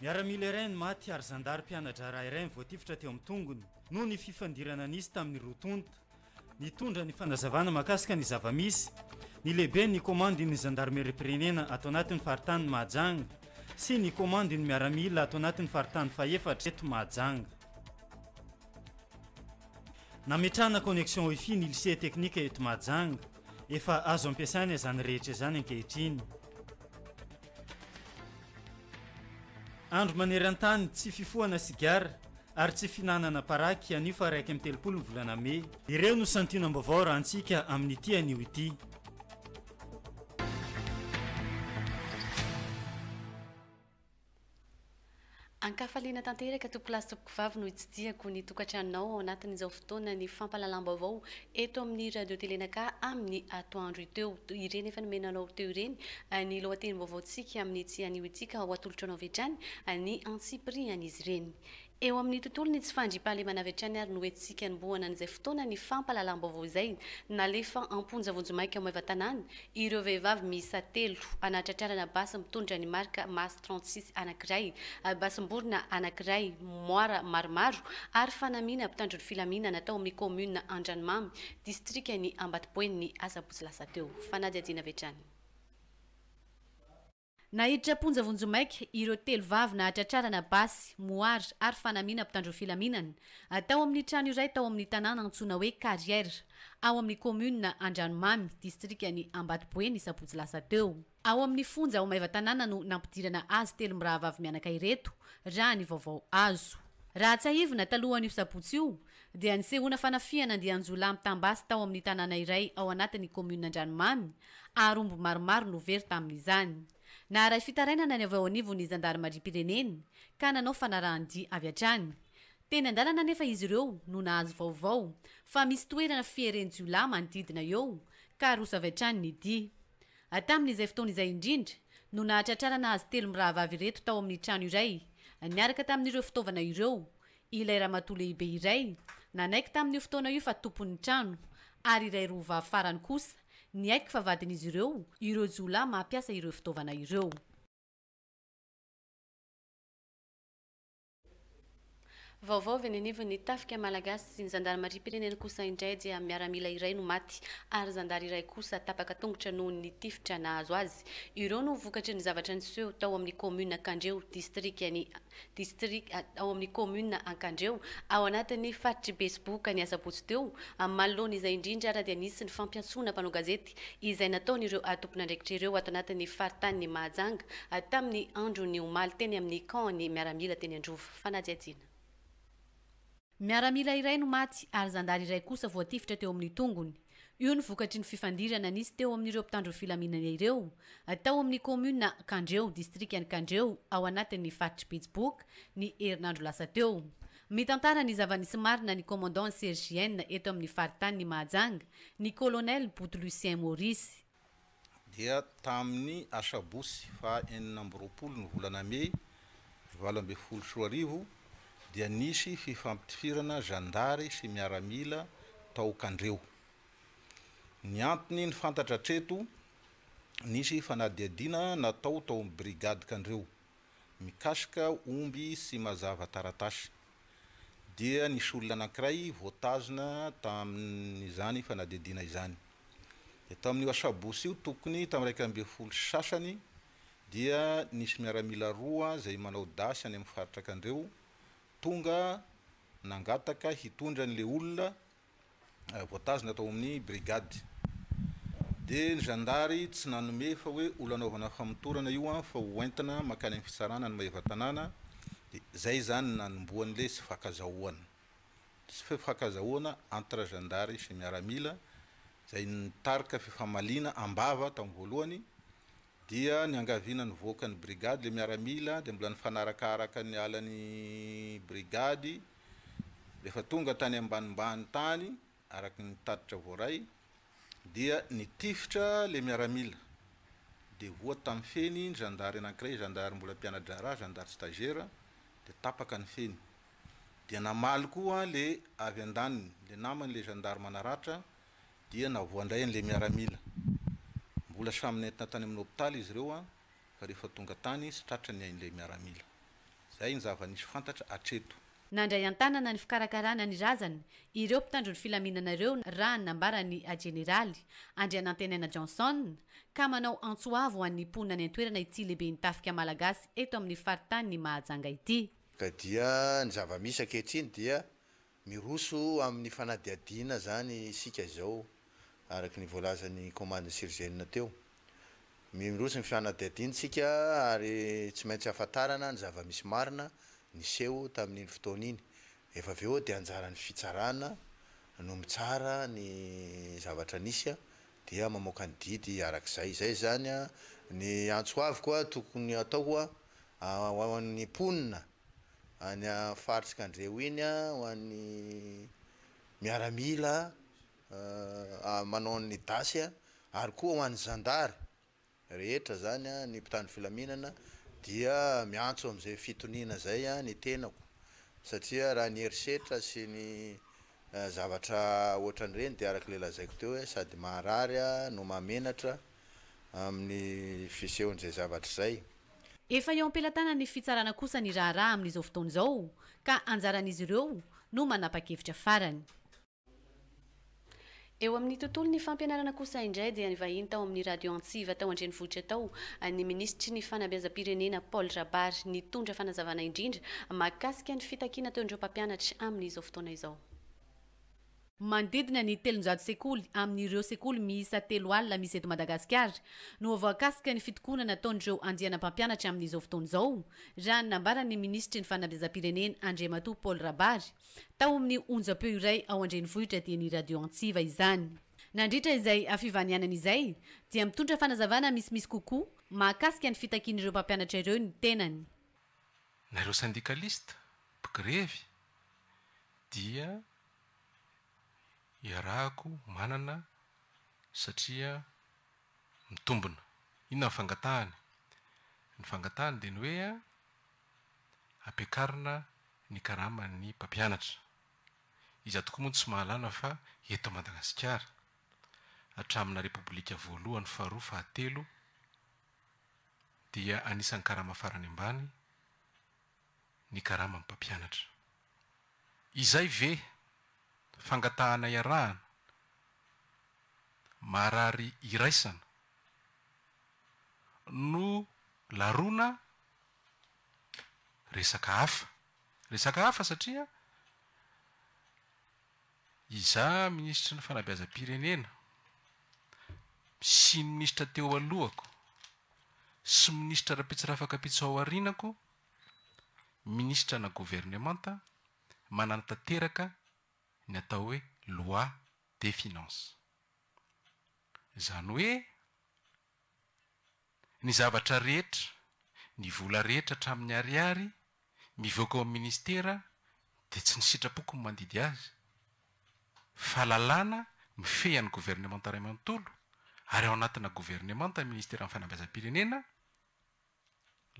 Miaramila iray no maty ary zandary mpiana-draharaha iray mivoatifitra teo amin'ny tongony noho ny fifandirana nisy tamin'ny roa tonta. Nitondra ny fanazavana mahakasika ny zava-misy ny lehiben'ny komandin'ny zandarimeriam-pirenena ato anatin'ny faritanin'i Mahajanga sy ny komandin'ny miaramila ato anatin'ny faritany fahefatra eto Mahajanga. Nametrahana connexion wifi ny lycée teknika eto Mahajanga. Efa azo ampiasaina izany rehetra izany ankehitriny. Andro maneran-tany tsy fifohana sigara ary tsy fihinanana paraky anio faha iraika amby telopolo ny volana mey. Ireo no santionam-baovao rahantsika amin'ity anio ity. An-kafaliana tanteraka tompokolahy sy tompokovavy no itsidihako ny tokantranonao ao anatin'izao fotoanan'ny fampahalalam-baovao eto amin'ny Radio Télé Naka amin'ny atoandro teo ireny efa nomena anao teo ireny ny lohatenim-baovaontsika amin'ity anio ity ka ho atolotra anao avy hatrany ny antsipirihan'izy ireny Eo amin'ny tontolo ny tsy fandriam-pahalemana avy hatrany ary no hetsika anombohana an'izay fotoana ny fampahalalam-baovao izay nalefa am-ponja vonjimaika ao Maevatanàna ireo vehivavy miisa telo anatratrarana basy mitondra ny marika Mas trente six anankiray, basim-borona anankiray, moara maromaro ary fanamiana mpitandro ny filaminana tao amin'ny kaominina Andranomamy, distrikan'i Ambatoboeny ny asabotsy lasa teo. Fanadihadiana avy hatrany. Naiditra am-ponja vonjimaika ireo telo vavy nahatratrarana basy, mohary ary fanamiana mpitandro filaminana, tao amin'ny trano iray tao amin'ny tanàna antsoina hoe Carrière, ao amin'ny kaominina Andranomamy, distrikan'i Ambatoboe ny sabotsy lasa teo. Ao amin'ny fonja ao Maevatanàna no nampidirana azy telo mirahavavy mianaka ireto, raha ny vaovao azo. Raha tsiahivina, talohan'io sabotsy io, dia nisehoana fanafihana andian-jiolahy mitam-basy tao amin'ny tanàna iray ao anatin'ny kaominina Andranomamy, ary omby maromaro no very tamin'izany. Naharay fitarainana ny avy ao anivon'ny zandarimariam-pirenena, ka nanao fanarahan-dia avy hatrany. Teny an-dalana anefa izy ireo no nahazo vaovao fa misy toerana fiheren-jiolahy manodidina eo, ka roso avy hatrany ny dia. Tamin'izay fotoana izay indrindra no nahatratrarana azy telo mirahavavy ireto tao amin'ny trano iray, niaraka tamin'ireo fitaovana ireo, Ilay ramatoa lehibe iray nanaiky tamin'io fotoana io fa tompon'ny trano, ary iray roa vavy farany kosa niaiky fa vadin'izy ireo ireo jiolahy mampiasa ireo fitaovana ireo. Vaovao avy eny anivon'ny Tafika malagasy sy ny zandarimariam-pirenena kosa indray dia miaramila iray no maty ary zandary iray kosa tapaka tongotra noho ny tifitra nahazo azy. Ireo no vokatry ny zavatra niseho tao amin'ny kaominina Kandreho, distrikan'i. District ao amin'ny Kaominina Ankandreo, ao anatin'ny faritr'i Betsiboka ny asabotsy teo. Amin'ny manoloana izay indrindra ary dia nisy ny fampiantsoana mpanao gazety izay nataon'ireo tompon'andraikitra ireo ato anatin'ny faritanin'i Mahajanga tamin'ny andron'ny omaly teny amin'ny Camp-n'ny miaramila teny Androva. Fanadihadiana. Miaramila iray no maty ary zandary iray kosa voatifitra teo amin'ny tongony. Io no vokatry ny fifandirana nisy teo amin'ireo mpitandro filaminana ireo, tao amin'ny kaominina Kandreho, distrikan'i Kandreho, ao anatin'ny faritr'i Betsiboka, ny herinandro lasa teo. Mitantara ny zava-nisy marina ny Commandant CGN eto amin'ny faritanin'i Mahajanga, ny Colonel Boto Lucien Maurice. dia tamin'ny asabotsy faha enina amby roapolo ny volana mey valo ambin'ny folo sy roa arivo dia nisy fifampitifirana zandary sy miaramila tao Kandreho. Ny antony ny fantatra hatreto, nisy fanadihadiana natao tao amin'ny brigade Kandreho. mikasika omby sy mazava taratasy, dia nisy olona anankiray voatazona tamin'izany fanadihadiana izany. Dia tamin'io asabotsy io, tokony tamin'ny iraika ambin'ny folo sy sasany, dia nisy miaramila roa izay manao dasy any amin'ny faritr'Akandreo tonga nangataka hitondra an'ilay olona voatazona tao amin'ny brigade dia ny zandary tsy nanome fa hoe olona anaovana famotorana io an fa ho entina makany amin'ny fitsarana ny mahefa tanàna dia zay zany nanombohan'ny lesy fakazahoana sy fakazahoana entre zandary sy miaramila zay ny tarika fifamaliana ambava tamin'ny voalohany Dia niangaviana nivoaka ny brigade ilay miaramila dia mbola nifanarakaaraka niala ny brigade rehefa tonga tany ambanimbany tany araka ny tatitra voaray dia nitifitra ilay miaramila dia voa tamin'ny feny ny zandary anankiray zandary mbola mpiana-draharaha zandary stagiaire dia tapaka ny feny dia namaly koa ilay avy an-daniny ilay namany ilay zandary manaratra dia navoa indray an'ilay miaramila. Mbola samy nentina tany amin'ny hopitaly izy ireo fa rehefa tonga tany izy tratra ny ain'ilay miaramila. Izay ny zava-nisy fantatra hatreto. Nandray an-tanana ny fikarakarana ny razany ireo mpitandro ny filaminana ireo raha ny nambaran'ny jeneraly Andrianantenaina Johnson ka manao antso avo ho an'ny mponina any an-toerana ity lehiben'ny tafika malagasy eto amin'ny faritanin'i Mahajanga ity. Ka dia ny zava-misy ankehitriny dia Miroso amin'ny fanadihadiana izany isika izao, araka ny voalazan'ny Komandin'i Sirzenina teo. Miroso ny fanadihadiantsika ary tsy maintsy hahafantarana ny zava-misy marina niseho tamin'iny fotoana iny. Rehefa avy eo dia anjaran'ny fitsarana no mitsara ny zavatra nisy dia mamoaka ny didy araka izay. Izay izany ny antso avy koa tokony hatao ho an'ny mponina. any faritry kandreho iny a ho an'ny miaramila manao an'ny dasy a ary koa ho an'ny zandary rehetra zany a ny mpitandro filaminana dia miantso am'zay fitoniana zay a ny tenako satria raha ny herisetra sy ny zavatra ohatran'ireny de arak'le lazaiko teo hoe sady maharary a no mahamenatra. amin'ny fisehon'izay zavatra izay. Efa eo am-pelatanan'ny fitsarana kosa ny raharaha amin'izao fotoana izao ka anjaran'izy ireo no manapa-kevitra farany. Eo amin'ny tontolon'ny fampianarana kosa indray dia nivahiny tao amin'ny Radio Antsiva tao an-drenivohitra tao ny minisitry ny fanabeazam-pirenena Paul Rabary nitondra fanazavana indrindra mahakasika ny fitakiana ataon'ireo mpampianatra amin'izao fotoana izao. Manodidina ny telonjato sekoly amin'ireo sekoly miisa telo alina misy eto Madagasikara no voakasika ny fitokonana ataon'ireo andiana mpampianatra amin'izao fotoana izao, raha ny nambaran'ny minisitry ny Fanabeazam-pirenena Andriamatoa Paul Rabary tao amin'ny onjam-peo iray ao an-drenivohitra dieny Radio Antsiva izany. Nandritra izay fivanianana izay dia mitondra fanazavana misimisy kokoa mahakasika ny fitakian'ireo mpampianatra ireo ny tenany. Na ireo sendikalisita, mpigrevy, dia iarahako manana satria mitombina. Inona ny fangatahany? Ny fangatahany dia ny hoe ampiakarina ny karaman'ny mpampianatra. Iza tokoa moa no tsy mahalala fa eto Madagasikara, hatramina Repoblika voalohany, faharoa, fahatelo dia anisan'ny karama farany ambany. ny karaman'ny mpampianatra. Izay ve fangatahana iarahana? Marary iraisana no laroana resaka hafa. Resaka hafa satria Izaho minisitry ny fanabeazam-pirenena sy ny minisitra teo alohako sy minisitra Rampitsirafaka Pitso ao aorianako, minisitra na governemanta, manana tanteraka ny atao hoe loi des finances. Izany hoe. Ny zavatra rehetra, ny vola rehetra hatramin'ny ariary mivoaka ao amin'ny ministera dia tsy ny sitrapoko no mandidy azy fa lalàna mifehy an'ny governemanta iray manontolo ary ao anatina governemanta ny ministeran'ny fanabeazam-pirenena,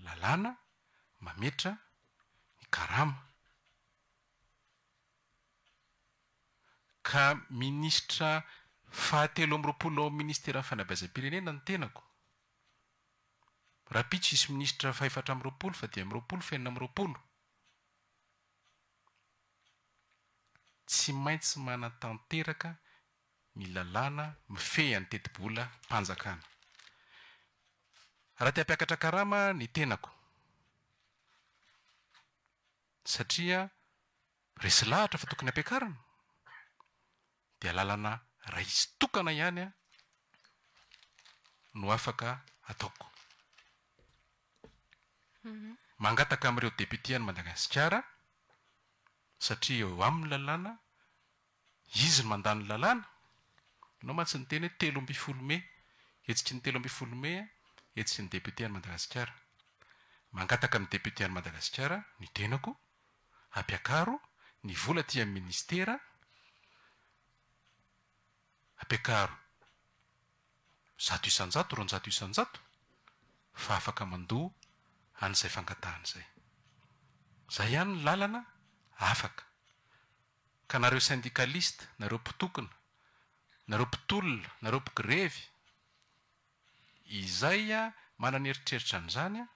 lalàna mametra ny karama. Ka minisitra fahatelo amby roapolo ao amin'ny ministeran'ny fanabeazam-pirenena ny tenako. Rahampitso hisy minisitra fahefatra amby roapolo, fadimy amby roapolo, fahenina amby roapolo. Tsy maintsy manatanteraka ny lalàna mifehy an'ny tetibolam-panjakana. Raha te-hampiakatra karama ny tenako, Satria resy lahatra fa tokony hampiakarina dia lalana raisy tokana ihany no afaka ataoko. Mangataka amin'ireo députés any Madagasikara satria eo aminy lalàna Izy no mandà ny lalàna. Ianao mantsy niteny hoe telo ambin'ny folo mey, hetsiky ny telo ambin'ny folo mey, hetsiky ny député an'i Madagasikara. Mangataka amin'ny député an'i Madagasikara ny tenako hampiakaro ny vola aty amin'ny ministera, hampiakaro zato isan-jato, roanjato isan-jato fa afaka mandoa an'izay fangatahany izay. Izay ihany ny lalana afaka. Ka nareo syndicaliste, nareo mpitokona, nareo mpitolona, nareo mpigrevy, izay manana eritreritra an'izany,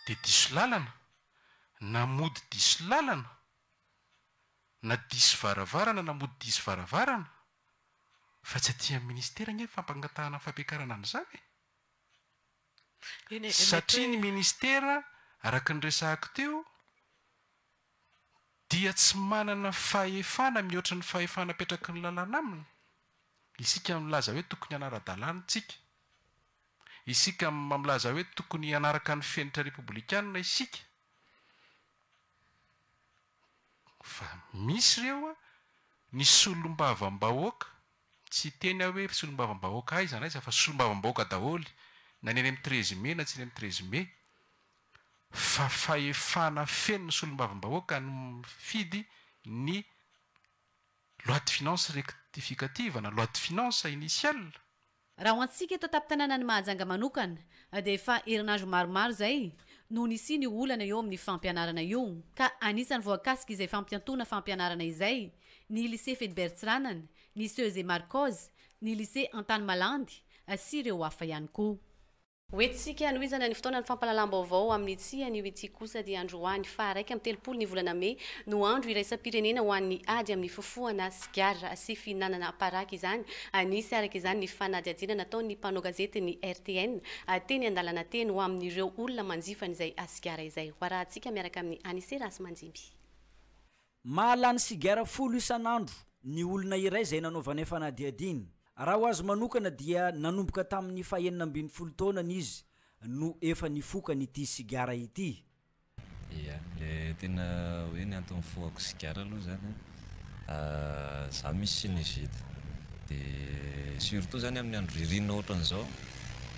dia diso lalana, na mody diso lalana, na diso varavarana, na mody diso varavarana, fa tsy aty amin'ny ministera anie ny fampangatahana ny fampiakarana an'izany e! Satria ny ministera, araka ny resahako teo, dia tsy manana fahefana mihoatra ny fahefana apetraky ny lalàna aminy, isika milaza hoe tokony hanara-dalàna isika, isika milaza hoe tokony hanaraka ny fenitra repoblikana isika, fa misy ireo ny solombavambahoaka, tsy hiteny aho hoe solombavambahoaka aiza na aiza fa solombavambahoaka daholo na ny eny amin'ny treize mai na tsy eny amin'ny treize mai, fa fahefana feno ny solombavambahoaka no mifidy ny loi de finances rectificative na loi de finances initiale. Raha ho antsika eto an-tampon-tanànan'i Mahajanga manokana dia efa herinandro maromaro izay no nisian'io olana eo amin'ny fampianarana io ka anisan'ny voakasika izay fampiantoana fampianarana izay ny Lycée Fedbert Tsirànana, ny Ceuse et Marcos, ny Lycée Antanimalandy sy ireo hafa ihany koa. Ho entintsika hanohizana ny fotoana ny fampahalalam-baovao amin'ny tsy anio ity kosa dia androany faha iraika amby telopolo ny volana mey no andro iraisam-pirenena ho an'ny ady amin'ny fofohana sigara sy fihinanana paraky izany. Anisy araka izany ny fanadihadiana nataon'ny mpanao gazety ny rtn teny an-dalana teny ho amin'ireo olona manjifa an'izay sigara izay. Hoarahantsika miaraka amin'i Anicet Rahasimanjimby. Mahalany sigara folo isan'andro ny olona iray izay nanaovany fanadihadiana. Raha ho azy manokana dia nanomboka tamin'ny fahenina ambin'ny folo taonany izy no efa nifokany ity sigara ity. Ia, le tena hoe ny antony nifohako sigara aloha zany an, za misy sinusite de surtout zany amin'ny andro ririnina ohatran'izao.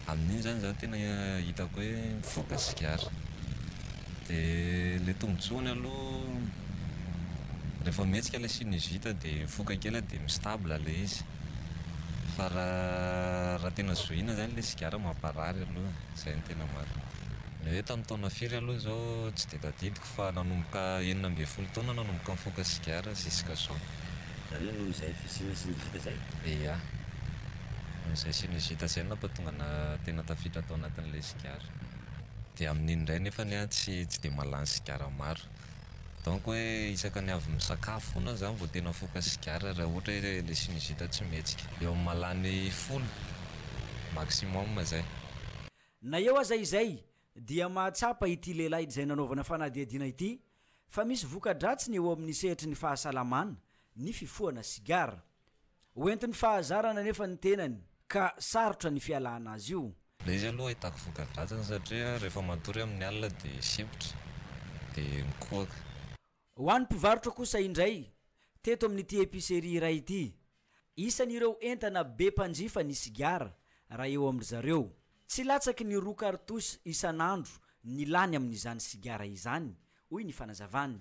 Amin'iny zany za tena hitako hoe mivoaka sigara. De le tombotsoany aloha rehefa mihetsika le sinusite de mifoka kely de mi-stable le izy. Fa raha raha tena zohiana zany le sigara mamparary aloha, zay no tena marina. Ny hoe tamin'ny taona firy aloha zao tsy de tadidiko Fa nanomboka enina ambin'ny folo taona nanomboka nifoka sigara ziska zao. Zany hoe noho izay fisiana sinizita izay? Eia. Noho izay sinizita izay no nampatonga ana tena tafiditra tao anatin'ilay sigara. Dia amin'iny indray nefany aho tsy tsy dia mahalany sigara maro. Donc hoe isaka ny avy misakafo foana aho zany vao tena afoka sigara raha ohatra hoe ilay sinizita tsy mihetsika. Eo amin'ny mahalany folo maximum izay. Na eo aza izay, dia mahatsapa ity lehilahy izay nanaovana fanadihadiana ity fa misy voka-dratsiny eo amin'ny sehatry ny fahasalamana ny fifohana sigara. Ho entin'ny fahazarana anefa ny tenany ka sarotra ny fialana azy io. Ilay izy aloha ahitako voka-dratsiny satria rehefa matory amin'ny alina dia sempotra dia mikohaka. Ho an'ny mpivarotra kosa indray, teto amin'ity epicerie iray ity, isan'ireo entana be mpanjifa ny sigara raha eo amin-dry zareo. Tsy latsaky ny roa cartouches isan'andro ny lany amin'izany sigara izany, hoy ny fanazavany.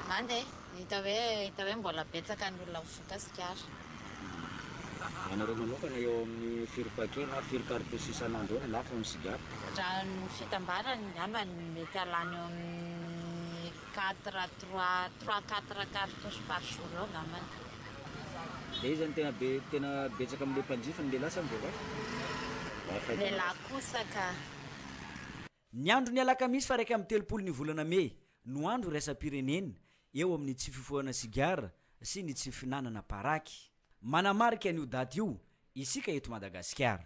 Hany e, hita hoe hita hoe mbola betsaka ny olona mivoaka sigara. Ianareo manokana eo amin'ny firy paquets na firy cartouches isan'andro eo no lafo amin'ny sigara? Raha ny fitambarany, angamba ny mety halany eo amin'ny. Quatre, trois, trois quatre cartouches par jour eo angambany. Dia iza no tena be, tena betsaka amin'ilay mpanjifa, ny lehilahy sa ny vehivavy? Lehilahy kosa ka. Ny andron'ny alakamisy faha iraika amby telopolo ny volana mey no andro iraisam-pirenena eo amin'ny tsy fifohana sigara sy ny tsy fihinanana paraky. Manamarika an'io daty io isika eto Madagasikara.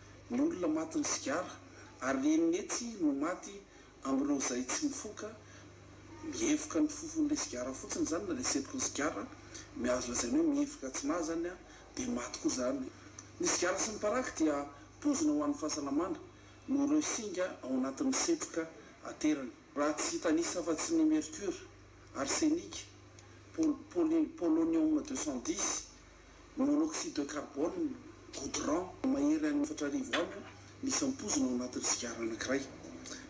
Ny olona matin'ny sigara ary renin'ny etsy no maty amin'ireo izay tsy mifoka, mihevoka ny fofon'ilay sigara fotsiny izany na ilay setroka ny sigara, ny azo lazaina hoe mihevoka atsinahy izany dia maty koa izany. Ny sigara sy ny paraky dia poizina ho an'ny fahasalamana noho ireo singa ao anatin'ny setroka aterany. Raha tsy hitanisa afa-tsy ny mercure, arsenic, pol, poly, polonium deux cent dix, Monoxyde de carbone, goudron, mahery any efatra arivo aminy ny isam-pozona ao anatin'ny sigara anankiray.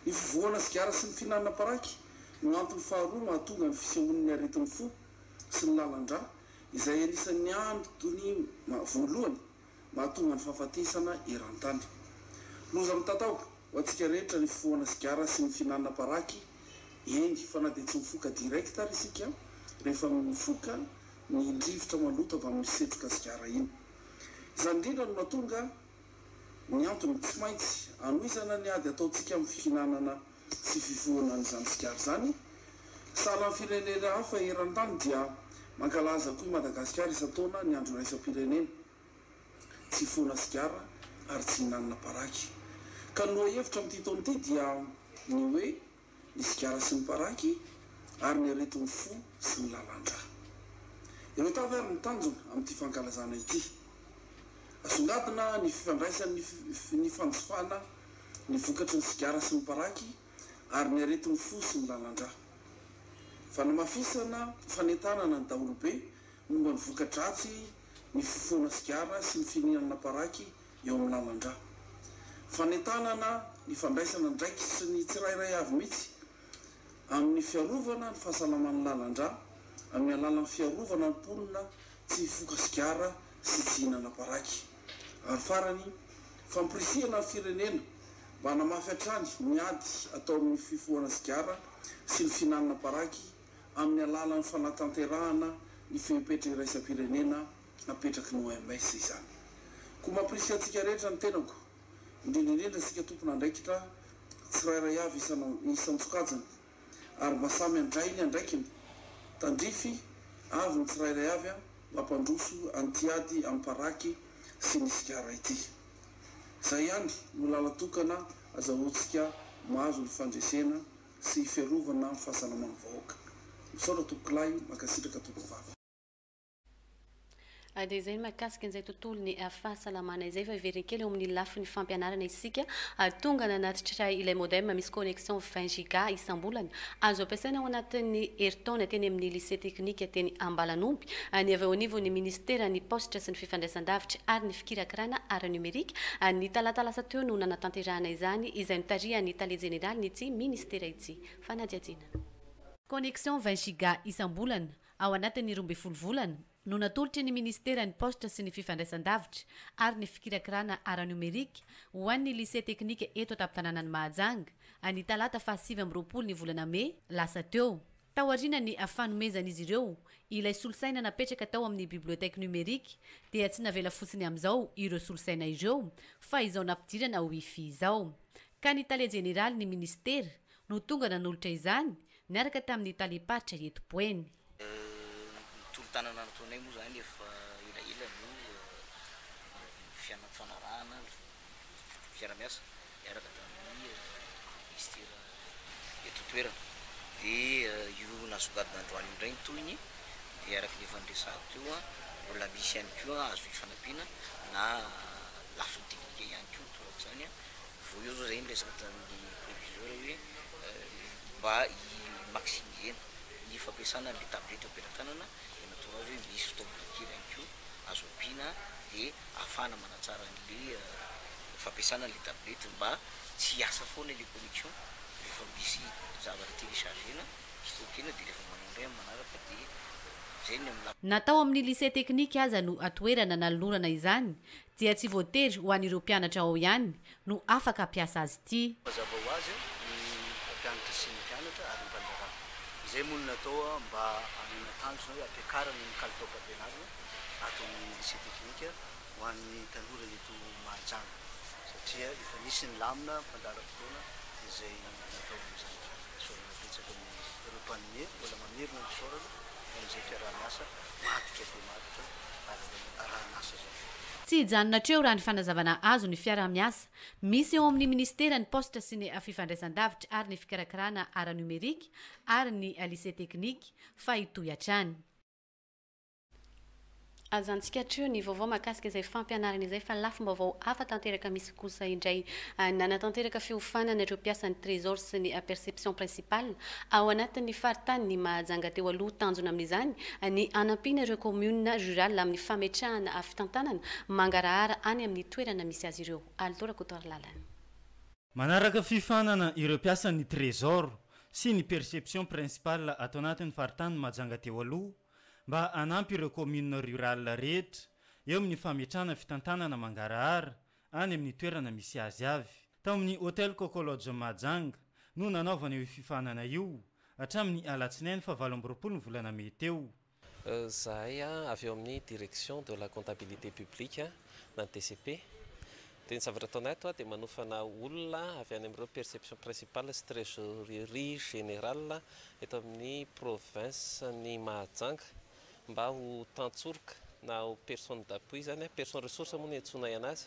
Ny fivoahana sigara sy ny fihinanana paraky no antony faharoa mahatonga ny fisehoan'ny aretin'ny fo sy ny lalan-drà, izay anisan'ny antony voalohany mahatonga ny fahafatesana eran-tany. Loza mitatao ho antsika rehetra ny fifohana sigara sy ny fihinanana paraky, eny fa na dia tsy mifoka direct ary isika, rehefa mifoka ny rivotra maloto avy amin'ny setroka sigara iny. Izany indrindra no mahatonga ny antony tsy maintsy hanohizana ny ady ataontsika amin'ny fihinanana sy fifohana an'izany sigara izany. Sahala amin'ny firenena hafa eran-tany dia mankalaza koa i Madagasikara isan-taona ny Andro Iraisam-pirenena tsy hifohana sigara ary tsy hihinanana paraky. Ka ny lohahevitra amin'ity taona ity dia ny hoe. ny sigara sy ny paraky, ary ny aretin'ny fo sy ny lalan-dra. Ireto avy ary ny tanjona amin'ity fankalazana ity, Asongadina ny fifandraisan'ny ny fanjifana ny vokatry ny sigara sy ny paraky ary ny aretin'ny fo sy ny lalan-dra. Fanamafisana fanentanana ny daholobe momba ny voka-dratsy ny fifohana sigara sy ny fihinanana paraky eo amin'ny naman-dra. Fanentanana ny fandraisana andraikitry sy ny tsirairay avy mihitsy amin'ny fiarovana ny fahasalaman'ny lalan-dra amin'ny alalan'ny fiarovana ny mponina tsy hifoka sigara sy tsy hihinana paraky. Ary farany, fampirisihana ny firenena mba hanamafy hatrany ny ady atao amin'ny fifohana sigara sy ny fihinanana paraky amin'ny alalan'ny fanatanterahana ny fepetra iraisam-pirenena napetraky ny OMS izany. Koa mampirisika antsika rehetra ny tenako, indrindra indrindra isika tompon'andraikitra tsirairay avy isan-tsokajiny, ary mba samy handray ny andraikiny, tandrify avy ny tsirairay avy mba hampandroso an'ity ady amim-paraky sy ny sigara ity. Izay ihany no lalan-tokana azahoantsika mahazo ny fandresena sy hiferovana ny fahasalaman'ny vahoaka. Misaotra Tompokolahy, mankasitraka Tompokovavy. Dia izay ny mahakasika an'izay tontolon'ny fahasalamana izay. Fa heveriny kely eo amin'ny lafiny fampianarana isika. Tonga nanatitra ilay modem misy connexion 20 giga isam-bolana. Azo ampiasaina ao anatin'ny herintaona teny amin'ny Lycée teknika teny Ambalanomby. Ny avy eo anivon'ny Minisiteran'ny Paositra sy ny Fifandraisandavitra ary ny Fikirakirana ara-nomerika, ny talata lasa teo no nanatanterahana izany, izay notarihan'ny Tale Jeneralin'ity Minisitera ity. Fanadihadiana. Connexion 20 giga isam-bolana. ao anatin'ny roa ambin'ny folo volana, no natolotry ny Minisiteran'ny Paositra sy ny Fifandraisandavitra ary ny Fikirakirana ara-niomerika ho an'ny Lycée Teknika eto an-tampon-tanànan'i Mahajanga, ny talata faha sivy amby roapolo ny volana mey lasa teo. Taorian'ny fanomezan'izy ireo ilay solosaina napetraka tao amin'ny Bibliothèque Numérique dia tsy navela fotsiny amin'izao ireo solosaina ireo fa izao nampidirana Wi-Fi izao, ka ny Tale Jeneralin'ny Minisitera no tonga nanolotra izany Niaraka tamin'ny talem-paritra eto Boeny. Ny tolo-tanana nataonay moa izany efa elaela no fifanarahana fiara-miasa niaraka tamin'ny minisitera eto an-toerana. Dia io nasongadina androany io indray ny tohiny dia araka ny efa niresahako teo, mbola misy ihany koa azo hifanampiana na lafiny teknika ihany koa torak'izany Vao eo zao zay niresaka tamin'ny proviseur hoe mba i maximiser ny fampiasana an'le tablette eo am-pelatanana de natoro azy hoe misy fitaovana kely ihany koa azo ampiana de ahafahana manatsara an'le fampiasana an'le tablette mba tsy hiasa foana le connection rehefa misy zavatra telechargena, stockena de rehefa manao indray amin'ny manaraka de zay ny amin'ny lafiny. Na tao amin'ny lycée technique aza no atoerana nanolorana izany dia tsy voatery ho an'ireo mpianatra ao ihany no afaka hampiasa azy ity. Mazava ho azy ny mpampianatra sy ny mpianatra ary ny mpandraharaha. Izay moa no natao mba hanana tanjona hoe hampiakarana ny kalitaom-pampianarana ato amin'ny Lycée Teknika ho an'ny tanora eto Mahajanga satria efa nisy ny lamina fandaharam-potoana izay natao amin'izany fisaorana betsaka ny ireo mpanome mbola mamerina ny fisaorana amin'izay fiaraha-miasa maditra dia maditra ary izao taranasa izao. Tsy hijanona hatreo raha ny fanazavana azo ny fiaraha-miasa misy eo amin'ny Minisiteran'ny Paositra sy ny Fifandraisandavitra ary ny Fikarakarana ara-nomerika ary ny Lycée Teknika fa hitohy hatrany. Aza antsikatreo ny vaovao mahakasika izay fampianarana izay fa lafim-baovao hafa tanteraka misy kosa indray. Nanatanteraka fiofanana ireo mpiasan'ny Trésor sy ny Perception Principale ao anatin'ny faritanin'i Mahajanga teo aloha. Tanjona amin'izany ny hanampiana ireo communes rurales amin'ny fametrahana fitantanana mangarahara any amin'ny toerana misy azy ireo. Alito Rakotoarilalana. Manaraka fiofanana ireo mpiasan'ny Trésor sy ny Perception Principale ato anatin'ny faritanin'i Mahajanga teo aloha mba hanampy ireo communes rurales rehetra eo amin'ny fametrahana fitantanana mangarahara any amin'ny toerana misy azy avy. Tao amin'ny Hotel Coco Lodge Mahajanga no nanaovana io fifaninana io hatramin'ny alatsinainy faha valo amby roapolo ny volana mey teo. Zahay avy ao amin'ny Direction de la Comptabilité Publique na DCP. Dia ny zavatra ataonay ato dia manofana olona avy any amin'ireo perception principale sy trésorerie générale eto amin'ny province-n'i Mahajanga mba ho tantsoroka na ho personne d'appui izany, personne ressource moa no iantsoanay anazy,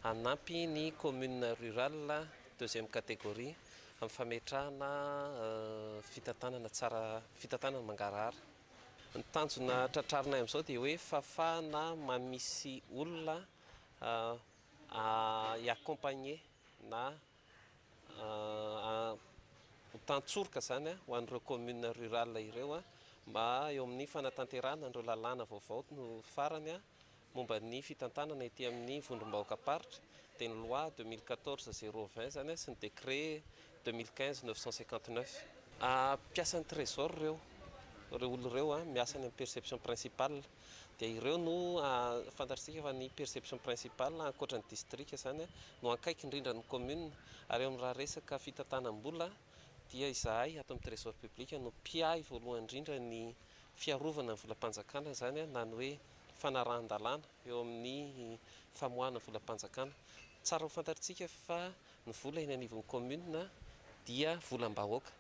hanampy ny commune rurale deuxième catégorie amin'ny fametrahana fitantanana tsara, fitantanana mangarahara. Ny tanjona tratrarinay amin'izao dia hoe fafana mamisy olona. i accompagner na ho tantsoroka izany ho an'ireo communes rurales ireo mba eo amin'ny fanatanterahana an'ireo lalàna vaovao farany momba ny fitantanana ety amin'ny vondrom-bahoakam-paritra, dia ny loi deux mille quatorze zéro vingt izany sy ny décret deux mille quinze neuf cent cinquante neuf. Mpiasan'ny Trésor ireo, ireo olona ireo miasa any amin'ny perception principale. dia ireo no fantatr'isika fa ny perception principale ankoatra ny distrika izany no ankaiky indrindra ny commune ary eo amin'ny raha resaka fitantanam-bola dia izahay ato amin'ny trésor public no mpiahy voalohany indrindra ny fiarovana ny volam-panjakana izany na ny hoe fanarahan-dalàna eo amin'ny famoahana volam-panjakana tsara ho fantatr'isika fa ny vola eny anivon'ny commune dia volam-bahoaka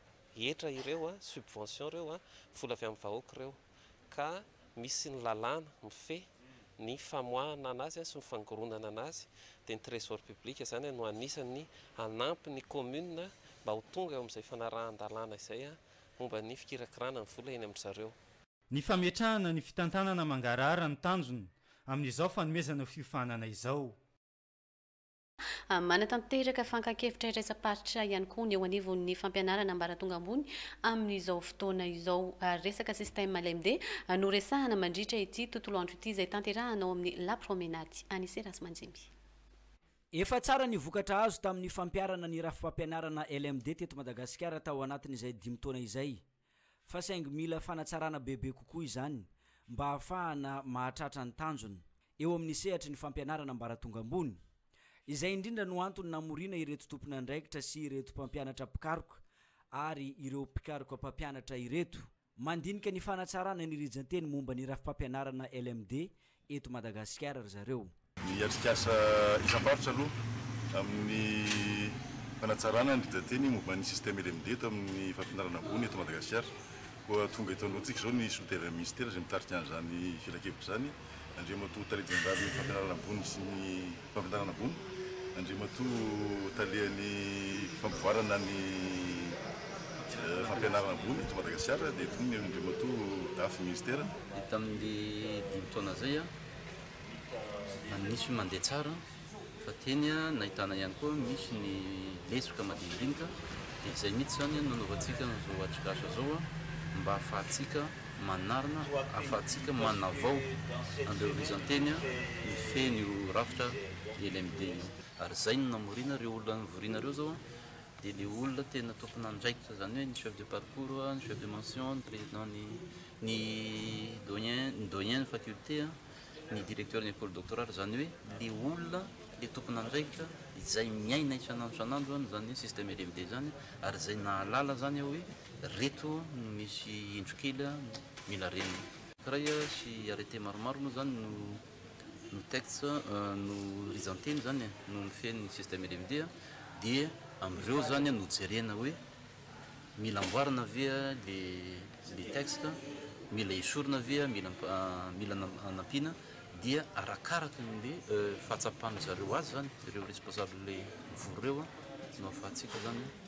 hetra ireo subvention ireo vola avy amin'ny vahoaka ireo ka misy ny lalàna mifehy ny famoahana anazy sy ny fangoronana anazy dia ny trésor public izany no anisan'ny hanampy ny commune mba ho tonga eo amin'izay fanarahan-dalàna izay momba ny fikirakirana ny vola eny amin-dry zareo. Ny fametrahana ny fitantanana mangarahara no tanjona amin'izao fanomezana fiofanana izao. Manatanteraka fakan-kevitra iraisam-paritra ihany koa ny eo anivon'ny fampianarana ambaratonga ambony amin'izao fotoana izao. Resaka système LMD no resahana mandritra ity tontolo andro ity izay tanterahana ao amin'ny La Promenade. Anise Razimandimby. Efa tsara ny vokatra azo tamin'ny fampiharana ny rafi-pampianarana LMD teto Madagasikara tao anatin'izay dimy taona izay. fa saingy mila fanatsarana bebe kokoa izany mba hahafahana mahatratra ny tanjona eo amin'ny sehatry ny fampianarana ambaratonga ambony. Izay indrindra no antony namoriana ireto tompon'andraikitra sy ireto mpampianatra mpikaroka ary ireo mpikaroka mpampianatra ireto. Mandinika ny fanatsarana ny rijan-teny momba ny rafi-pampianarana LMD eto Madagasikara ry zareo. Ny atrikasa isam-paritra aloha amin'ny fanatsarana ny rijan-teny momba ny système LMD eto amin'ny fampianarana ambony eto Madagasikara. Koa tonga eto anoloantsika izao ny solontenan'ny Minisitera izay mitarika an'izany filankevitra izany, Andriamatoa Tale Jeneralin'ny Fampianarana Ambony sy ny. Fandrarana ambony, Andriamatoa Talehan'ny fampivoarana ny fampianarana ambony eto Madagasikara dia eto ny Andriamatoa Dafy Minisitera. Ny tamin'ny dimy taona izay nisy mandeha tsara fa teny nahitana ihany koa misy ny lesoka madinidinika dia izay mihitsy izany no nanaovantsika an'izao atrikasa izao mba hahafahantsika manarina ahafahantsika manavao an'ireo rizanteny mifehy an'io rafitra LMD io. Ary izay no namoriana ireo olona nivoriana ireo izao dia ilay olona tena tompon'andraikitra izany hoe ny chef de parcours, ny chef de mention, ny président ny ny doyen, ny doyen ny faculté, ny directeur ny ecole doctorale izany hoe ilay olona ilay tompon'andraikitra izay miaina isan'andro isan'andro izany hoe système LMD izany ary izay nahalala izany hoe Reto no misy indro kely mila renina. Iray sy arrêté maromaro moa zany no no texte no rijan-teny zany no mifehy ny système LMD dia amin'ireo zany no jerena hoe mila amboarina ve le le texte, mila esorina ve, mila mila anampiana dia arakaraka ny le fahatsapan-dry zareo azy zany ireo responsable mivory ireo no ahafahantsika zany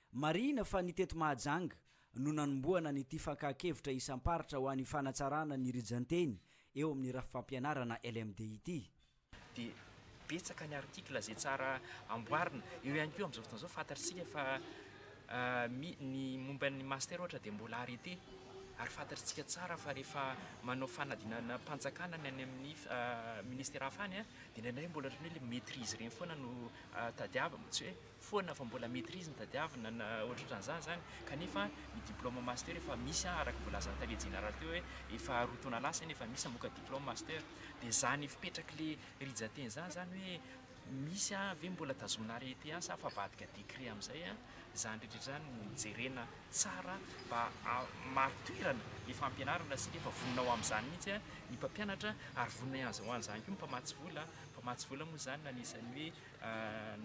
Marihina fa ny teto Mahajanga no nanombohana an'ity fankahakevitra isam-paritra ho an'ny fanatsarana ny rijan-teny eo amin'ny rafi-pampianarana LMD ity. Dia betsaka ny article izay tsara amboarina. Eo ihany koa amin'izao fotoana izao fantatr'isika fa mi ny momba ny master ohatra dia mbola arrêté ary fantatr'isika tsara fa rehefa manao fanadinanam-panjakana ny any amin'ny ministera hafa any dia indraindray mbola ohatran'ny hoe ilay maitrise ireny foana no tadiavina, tsy hoe. foana fa mbola maîtrise no tadiavina na ohatrohatran'izany izany kanefa ny diplôme master efa misy an! araka ny voalazan'ny tale jeneraly teo hoe efa roa taona lasa anie efa misy namoaka diplôme master dia izany fipetrak'ilay rija teny izany izany hoe misy an! ve mbola tazomina arrêté an! sa efa avadika décret amin'izay an! izany rehetra izany no jerena tsara mba hamaritirana ilay fampianarana sy efa vonona ho amin'izany mihitsy an! ny mpampianatra ary vonona ihany izao an'izany koa ny mpamatsy vola an! mpamatsy vola moa izany no anisan'ny hoe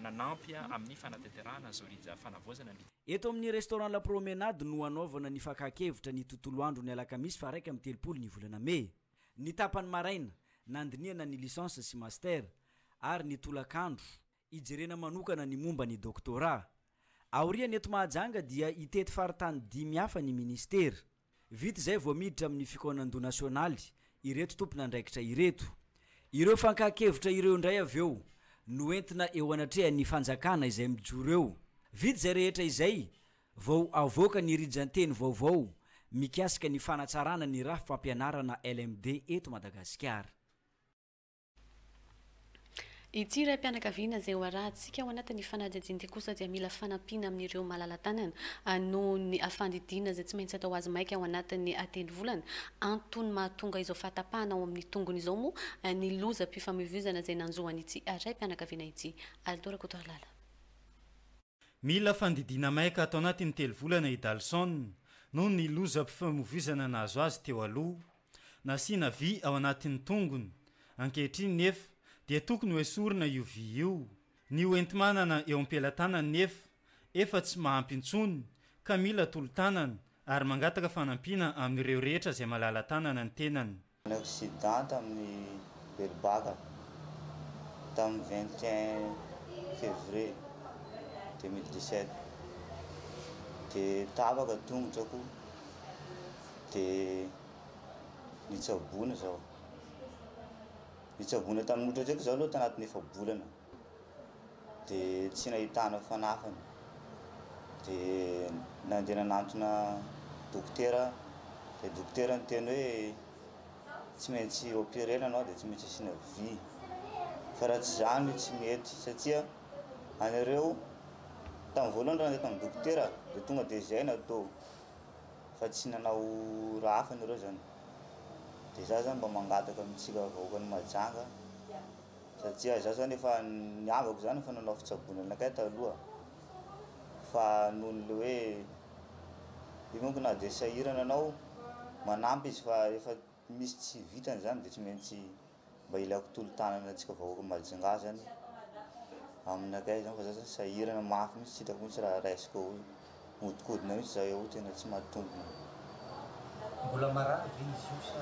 nanampy amin'ny fanatanterahana Zorija Fanavaozana ny. Eto amin'ny Restaurant La Promenade no hanaovana ny fakan-kevitra ny tontolo andro ny alakamisy faha iraika amby telopolo ny volana mey. Ny tapany maraina, nandinihana ny licence sy master ary ny tolakandro, hijerena manokana ny momba ny doctorat. Aorian' eto Mahajanga dia hitety faritany dimy hafa ny Ministera. Vita izay vao miditra amin' ny fikaonandoha nasionaly ireto tompon'andraikitra ireto. Ireo fankahakevitra ireo indray avy eo no entina eo anatrehan' ny Fanjakana izay mijoro eo. Vita izay rehetra izay vao avoaka ny rijan-teny vaovao mikasika ny fanatsarana ny rafi-pampianarana LMD eto Madagasikara. Ity raim-pianakaviana izay hoarahantsika ao anatin'ny fanadihadiana ity kosa dia mila fanampiana amin'ireo malala-tanana noho ny fandidiana izay tsy maintsy atao azy maika ao anatin'ny telo volana. Antony mahatonga izao fahatapahana ao amin'ny tongony izao moa ny lozam-pifamoivoizana izay nanjo an'ity raim-pianakaviana ity. Aldo Rakotoarlala. Mila fandidiana maika ato anatin'ny telo volana i Dalson noho ny lozam-pifamoivoizana nahazo azy teo aloha. Nasiana vy ao anatin'ny tongony. Ankehitriny nefa dia tokony ho esorina io vy io. Ny hoenti-manana eo am-pelatanany nefa efa tsy mahampy intsony ka mila tolo-tanana ary mangataka fanampiana amin'ireo rehetra izay malala-tanana ny tenany. Nanao accident tamin'ny Belobaka tamin'ny vingt et un février deux mille dix-sept dia tapaka tongotrako. dia nitsaboana izaho. Nitsaboana tamin'ny ohatra izao aloha tanatin'ny efa-bolana, dia tsy nahitana fanafany. Dia nandeha nanantona dokotera aho, dia dokotera niteny hoe tsy maintsy operer-na anao dia tsy maintsy asiana vy, fa raha tsy izany tsy mety satria anareo, tamin'ny voalohany raha nandeha tamin'ny dokotera dia tonga dia izay no atao. fa tsy nanao raha hafa nareo zany de za zany mba mangataka amintsika vahoakan'i Mahajanga satria za zany efa ny havako zany efa nanao fitsaboana anakay taloha fa nohon'ny le hoe io manko na de sahirana anao manampy izy fa refa misy tsy vitany zany de tsy maintsy mba ilaiko tolo-tanana antsika vahoaka Majunga zany aminakay zany fa za zany sahirana mafy mihitsy tsy hitako mihitsy raha raisiko eo, mihodinkodina mihitsy za eo tena tsy mahatombina. Mbola marary ve izy io sa?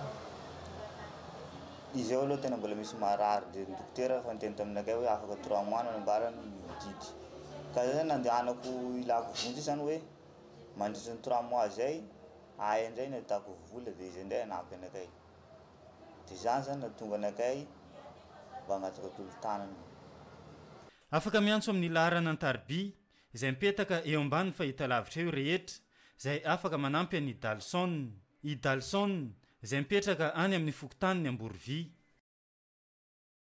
Izy io aloha tena mbola misy marary dia ny dokotera efa niteny taminakay hoe afaka trois mois nanambarany ny miodidy ka za zany nandehanako hilako vonjy zany hoe mandritry ny trois mois zay ahy indray ny ataoko vola dia izay indray hanampy anakay. Dia izany izany no hahatonga anakay mba hangataka tolo-tanana. Afaka miantso amin'ny laharana an-tariby izay mipetaka eo ambanin'ny fahitalavitra eo rehetra izay afaka manampy an'i Dalson. I Dalson izay mipetraka any amin'ny fokontanin'i Amborovia.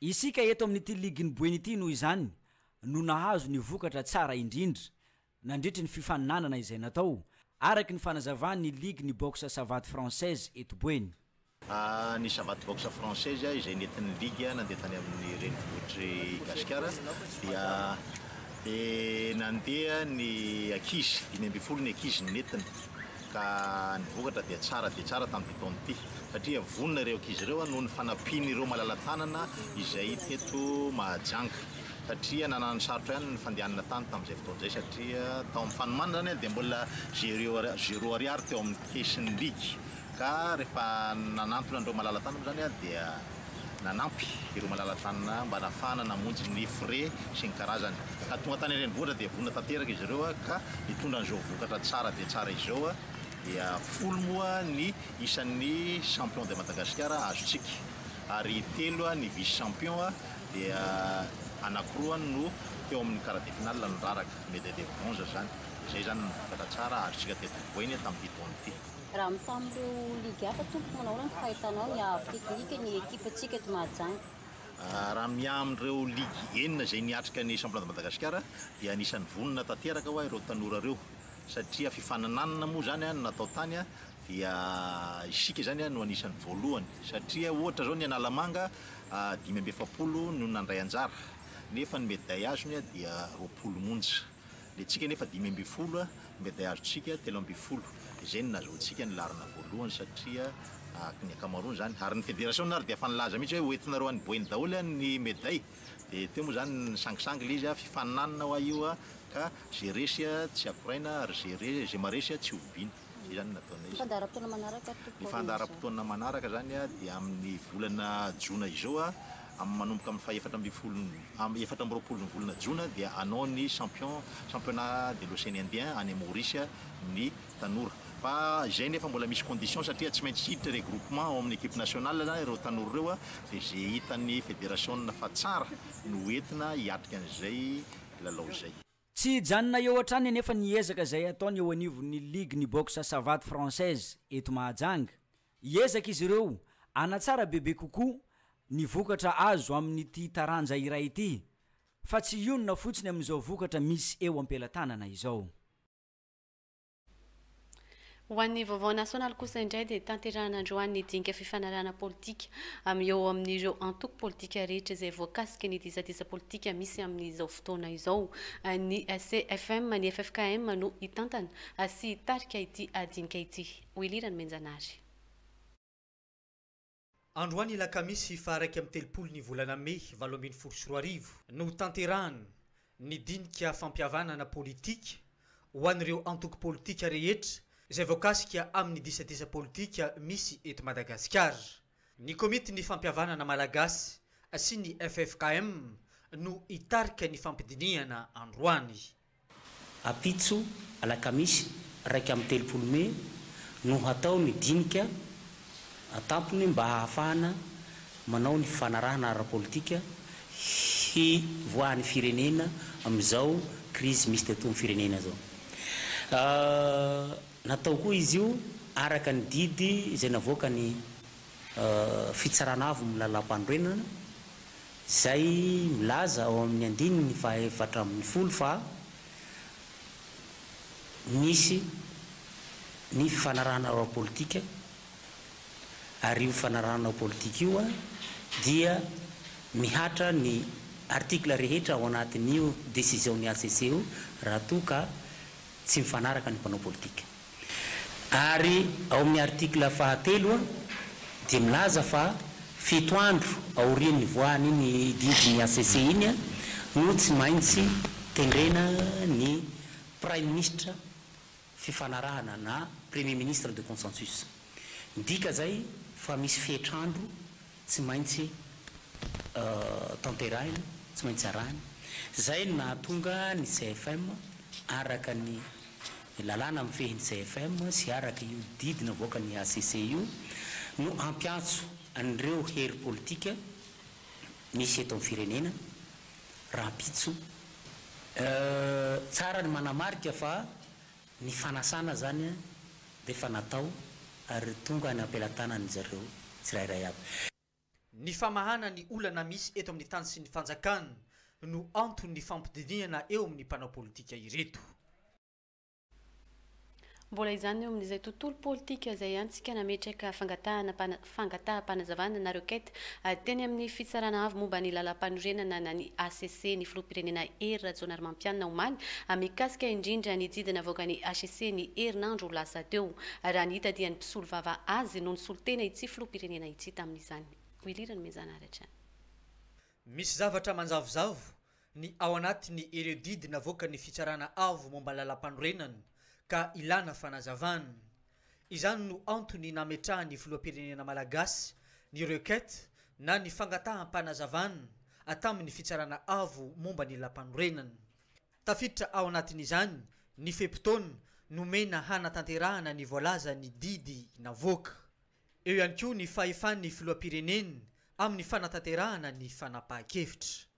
Isika eto amin'ity ligin'i Boeny ity noho izany no nahazo ny vokatra tsara indrindra nandritry ny fifaninanana izay natao, araka ny fanazavan'ny ligin'ny boxe savate française eto Boeny. Ny savate boxe française izay nentin'ny ligy nandeha tany amin'ny renivohitr'i Gasikara dia nandeha ny ankizy, dimy ambin'ny folo ny ankizy no nentina. ka ny vokatra dia tsara dia tsara tamin'ity taona ity satria vonona ireo ankizy ireo noho ny fanampian'ireo malala-tanana izay teto Mahajanga satria nanana ny sarotra ihany ny fandehanana tany tamin'izay fotoana izay satria tao amin'ny fanomanana izany dia mbola zero ariary teo amin'ny kesin'ny ligy ka rehefa nanantona an'ireo malala-tanana izany dia nanampy ireo malala-tanana mba nahafahana namonjy ny fre sy ny karazany. Ka tonga tany an-drenivohitra dia vonona tanteraka izy ireo ka nitondra an'izao vokatra tsara dia tsara izao. Dia folo moa ny isan'ny champion de Madagasikara azontsika ary telo ny vice champion dia anankiroa no teo amin'ny quart de finale niraraka, medaille de bronze izany. Izay izany ny vokatra tsara azontsika teto Ambohibohena tamin'ity taona ity. Raha mitaha amin'ireo ligue hafa tompoko, manao ahoana ny fahitanao ny haavo teknika ny ekipantsika eto Mahajanga? Raha miaha amin'ireo ligue enina izay niatrika ny championnat de Madagasikara dia anisan'ny vonona tanteraka hoa ireo tanora ireo satria fifanananana moa izany no natao tany dia isika izany no anisan'ny voalohany satria ohatra izao ny Analamanga dimy amby efapolo no nandray anjara nefa ny medaille azony dia roapolo monja. Ny antsika anefa dimy ambin'ny folo mba dia azontsika telo ambin'ny folo. Izay no nahazoantsika ny laharana voalohany satria araka ny ankamaroany izany, ary ny federasiona ary dia efa nilaza mihitsy hoe ho entinareo any Boeny daholo ny meday. Dia teo moa izany ny nisangisangy ilay izy, fifaninanana hoa io ka izay resy tsy akoraina ary izay re- izay maharesy tsy hoviana. Izay izany no nataonay. Ny fandaharam-potoana manaraka tompoko? Ny fandaharam-potoana manaraka izany dia amin'ny volana jona izao Am manomboka amin'ny faha efatra ambin'ny folo am efatra amby roapolo ny volana jona dia hanao ny champion championnat de l'océan indien any Maurice ny tanora fa izay nefa mbola misy condition satria tsy maintsy hiditra regroupement ao amin'ny equipe nationale zany ireo tanora ireo dia ze hitan'ny federation fa tsara no ho entina hiatrika an'izay lalao izay. Tsy hijanona eo hatrany anefa ny ezaka izay ataony eo anivon'ny ligue ny boxe savate française eto Mahajanga Hiezaka izy ireo hanatsara bebe kokoa ny vokatra azo amin'ity taranja iray ity, fa tsy hionona fotsiny amin'izao vokatra misy eo am-pelatanana izao. Ho an'ny Vaovao Nasionaly kosa indray dia tanterahina androany ny dinika fifanarahana politika eo amin'ireo antoko politika rehetra izay voakasiky ny disadisa politika misy amin'izao fotoana izao. Ny CFM, ny ffkm no hitantana sy hitarika ity dinika ity. Ho ilirany Menjanahary. Androany alakamisy faha iraika amby telopolo ny volana mey valo ambin'ny folo sy roa arivo no hotanterahana ny dinika fampihavanana politika ho an'ireo antoko politika rehetra izay voakasika amin'ny disadisa politika misy eto Madagasikara. Ny komitin'ny fampihavanana malagasy sy ny ffkm no hitarika ny fampidinihana androany. Ampitso, alakamisy iraika amby telopolo mey, no hatao ny dinika an-tampony mba hahafahana manao ny fifanarahana ara-politika hivoahan'ny firenena amin'izao krizy misy teto amin'ny firenena izao. Natao koa izy io araka ny didy izay navoakan'ny Fitsarana Avo amin'ny Lalàmpanorenana. izay milaza ao amin'ny andininy fahaefatra ambin'ny folo fa nisy ny fifanarahana ara-politika ary io fifanarahana ara-politika io dia mihatra ny articles rehetra ao anatin'io décision-n'ny HCC io raha toa ka tsy mifanaraka ny mpanao politika. Ary ao amin'ny article fahatelo dia milaza fa fito andro aorian'ny nivoahan'iny didin'ny hcc iny no tsy maintsy tendrena ny praiminisitra fifanarahana na premier ministre de consensus. Midika izay fa misy fetr'andro Tsy maintsy tanterahina, tsy maintsy arahina. Izay no nahatonga ny CFM, araka ny lalàna mifehy ny CFM sy araka io didy navoakan'ny hcc io, no hampiantso an'ireo hery politika misy eto amin'ny firenena rahampitso, Tsara ny manamarika fa Ny fanasana izany dia efa natao ary tonga any am-pelatanan'izy ireo tsirairay avy. Ny famahana ny olana misy eto amin'ny tany sy ny fanjakana no anton'ny fampidinihana eo amin'ny mpanao politika ireto. Mbola izany eo amin'izay tontolo politika izay ihany tsika nametraka fangatahana fangataham-panazavana na requête, teny amin'ny Fitsarana Avo momba ny Lalampanorenana na ny hcc ny Filoham-pirenena Hery Rajaonarimampianina omaly mikasika indrindra ny didy navoakan'ny hcc ny herinandro lasa teo raha ny hitadihan'ny mpisolovava azy no nisolo tena ity Filoham-pirenena ity tamin'izany. Willy Ranomezana Aratra. Misy zavatra manjavozavo ny ao anatin'ny ireo didy navoakan'ny Fitsarana Avo momba ny Lalampanorenana ka ilana fanazavana. Izany no antony nametrahan'ny Filoham-pirenena malagasy ny requête na ny fangataham-panazavana tamin'ny Fitsarana Avo momba ny Lampanorenana. Tafiditra ao anatin'izany ny fe-potoana nomena hanatanterahana ny voalazan'ny didy navoaka. Eo ihany koa ny fahefan'ny Filoham-pirenena amin'ny fanatanterahana ny fanapahan-kevitra.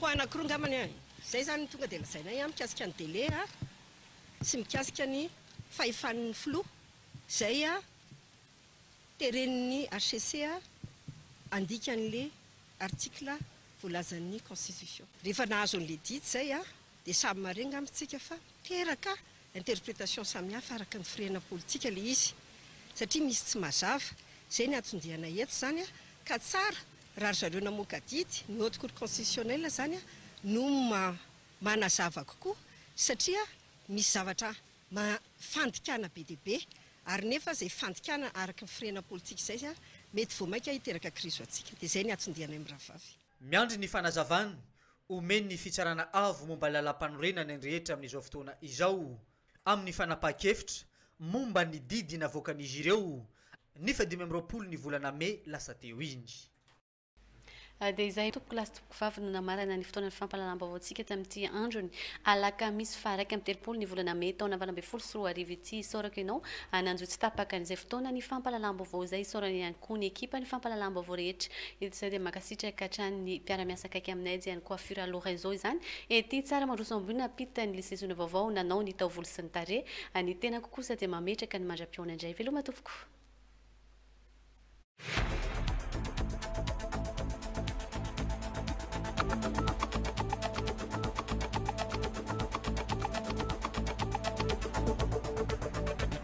Ho anankiroa angambany an! Izay izany no tonga dia lazainay an, mikasika ny délai an, sy mikasika ny fahefan'ny filoha izay an, teren'ny HCC an, handika an'ilay article voalazan'ny constitution. Rehefa nahazo an'ilay didy izay an, dia samy marin angamba isika fa teraka interprétation samihafa araka ny firehana politika ilay izy satria misy tsy mazava, izay ny anton-diana eto izany an, ka tsara raha ry zareo namoaka adidy, ny Haute Cour Constitutionnelle izany an, no manazava kokoa satria misy zavatra fandikana be dia be ary nefa izay fandikana araka ny firehana politika izay an, mety vao mainka hiteraka krizy ho antsika, dia izay ny anton-dianay mirahavavy. Miandry ny fanazavana omen'ny Fitsarana Avo momba ny Lalàmpanorenana ny rehetra amin'izao fotoana izao amin'ny fanapahan-kevitra momba ny didy navoakan'izy ireo ny fahadimy amby roapolo ny volana mey lasa teo iny. Dia izay tompoko lahy sy tompoko vavy no namarana ny fotoanan'ny fampahalalam-baovaontsika tamin'ity andron'ny alakamisy faha iraika amby telopolo ny volana mey taona valo ambin'ny folo sy roa arivo ity. Isaorako ianao hananjo tsy tapaka an'izay fotoanan'ny fampahalalam-baovao izay. Isaorana ihany koa ny ekipan'ny fampahalalam-baovao rehetra Eto izay dia mankasitraka hatrany ny mpiara-miasa akaiky aminay dia ny coiffure à Lorenzo izany ety tsara mandroso ambony ampita ny lycée zona vaovao nanao ny taovolo sy ny tarehy ny tenako kosa dia mametraka ny mandra-pihaona indray veloma tompoko.